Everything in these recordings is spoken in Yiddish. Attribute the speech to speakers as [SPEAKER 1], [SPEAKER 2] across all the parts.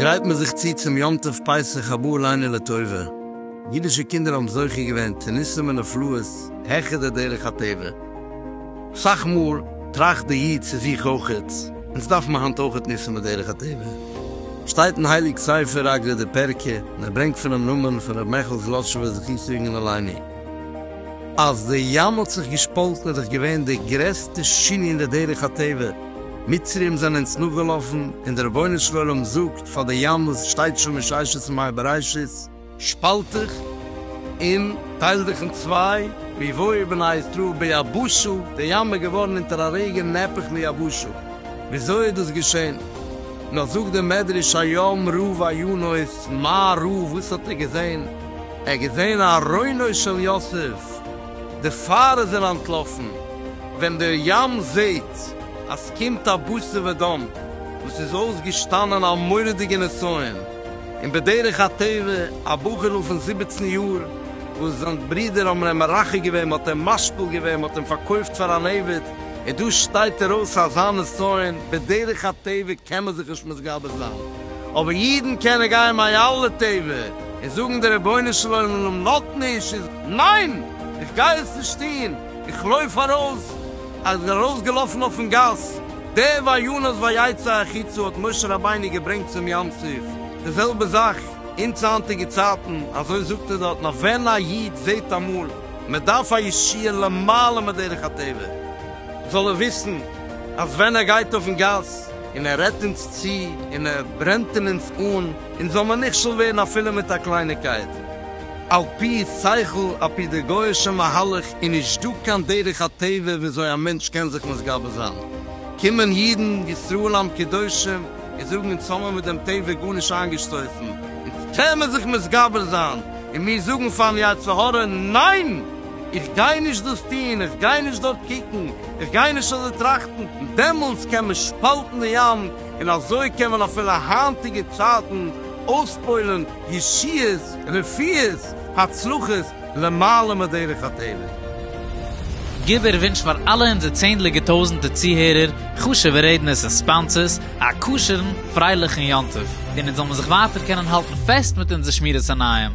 [SPEAKER 1] גרייט מען זיך צו צום יום טוב פסח הבא עלינו לטובה, אידישע קינדער האבן זוכה געווען צו ניסים ונפלאות העכער די דרך הטבע, סאך מאל טראכט די איד צו זיך אויכעט, אונז דארף מען היינט אויכעט ניסן בדרך הטבע? שטייט אין הייליג ספר אגרת די פרקי, און ער ברענגט פונעם נאמן פון ר' מעכל זלאטשובער זכותו יגן עלינו, אז די ים האט זיך געשפאלטן איז דאך געווען די גרעסטע שינוי אין די דרך הטבע, מצרים זענען אונז נאכגעלאפן, און די רבונו של עולם זאגט פאר די ים וואס שטייט שוין מששת ימי בראשית, שפאלט דיך און טייל דיך אין צוויי, מי יבואו בני ישראל ביבשה, די ים איז געווארן אונטער א רגע נהפך מיבשה, וויאזוי איז דאס געשען? נאך זאגט דער מדרש היום רוב עיונות, מה ראה וואס האט ער געזען? ער האט געזען ארונו של יוסף, די פאר איז ער אנטלאפן, ווען דער ים זעט אז קומט א בשר ודם וואס איז אויסגעשטאנען א מורא'דיגע נסיון, און בדרך הטבע א בחור'ל פון זיבעצן יאר וואס זיין ברודער האבן אים מרחק געווען, מ'האט אים משפיל געווען, מ'האט אים פארקויפט פאר אן עבד, און דא שטייט ער אויס א זיין נסיון, בדרך הטבע קען מען זיך נישט מתגבר זיין, אבער אידן קענען גיין מיין אלע טבע און זאגן דער רבונו של עולםם נאט נישט איז ניין! איך גיי עס נישט טון! איך לויף ארויס! ער איז ארויס געלאפן אויפן גאס, דער ויונס ויצא החוצה האט משה רבינו געברענגט צום ים סוף, די זעלבע זאך אונז היינטיגע צייטן, אזוי זאגט ער דארט, נאר ווען א איד זעט אמאל מען דארף א ישועה למעלה מדרך הטבע, זאל ער וויסן אז ווען ער גייט אויפן גאס און ער רעדט אונז צו און ער ברענט אין אונז אן, אונז זאל מען נכשל ווערן אפילו מיט א קלייניקייט. על פי שכל, על פי די גוי'אישע מהלך איז נישט דא קיין דרך הטבע וויאזוי א מענטש קען זיך מתגבר זיין. קומען אידן, ישראל עם קדושים, און זאגן אונז האמער מיט דעם טבע גארנישט איינגעשטויסן, אונז קען מען זיך מתגבר זיין, און מיר זאגן פארן יצר הרע, ניין! איך גיי נישט דאס טון, איך גיי נישט דארט קוקן, איך גיי נישט אזוי טראכטן. דעמאלטס קען מען שפאלטן די ים, און אזוי קען מען אפילו היינטיגע צייטן אויספוילן ישועות, רפואות, הצלחות, למעלה מדרך הטבע. גיב ער ווינטש פאר אלע אונזער צענדליגע טויזענטע צוהערער, חשובע רעדנערס און ספאנסערס, א כשר'ן, פרייליכן יום טוב, און אונז זאל מיר זיך ווייטער קענען האלטן פעסט מיט אונזער שמירת עיניים.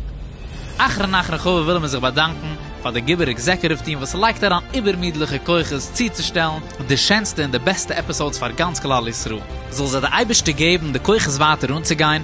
[SPEAKER 1] אחרון אחרון חביב ווילן מיר זיך באדאנקן פאר די גיבור עקזעקוטיוו טיעם וואס לייגט אריין איבערמידליכע כוחות צוצושטעלן די שענסטע און די בעסטע עפיסאודס פאר גאנץ כלל ישראל. זאל זיי די אייבערשטער געבן די כוחות ווייטער אנצוגיין.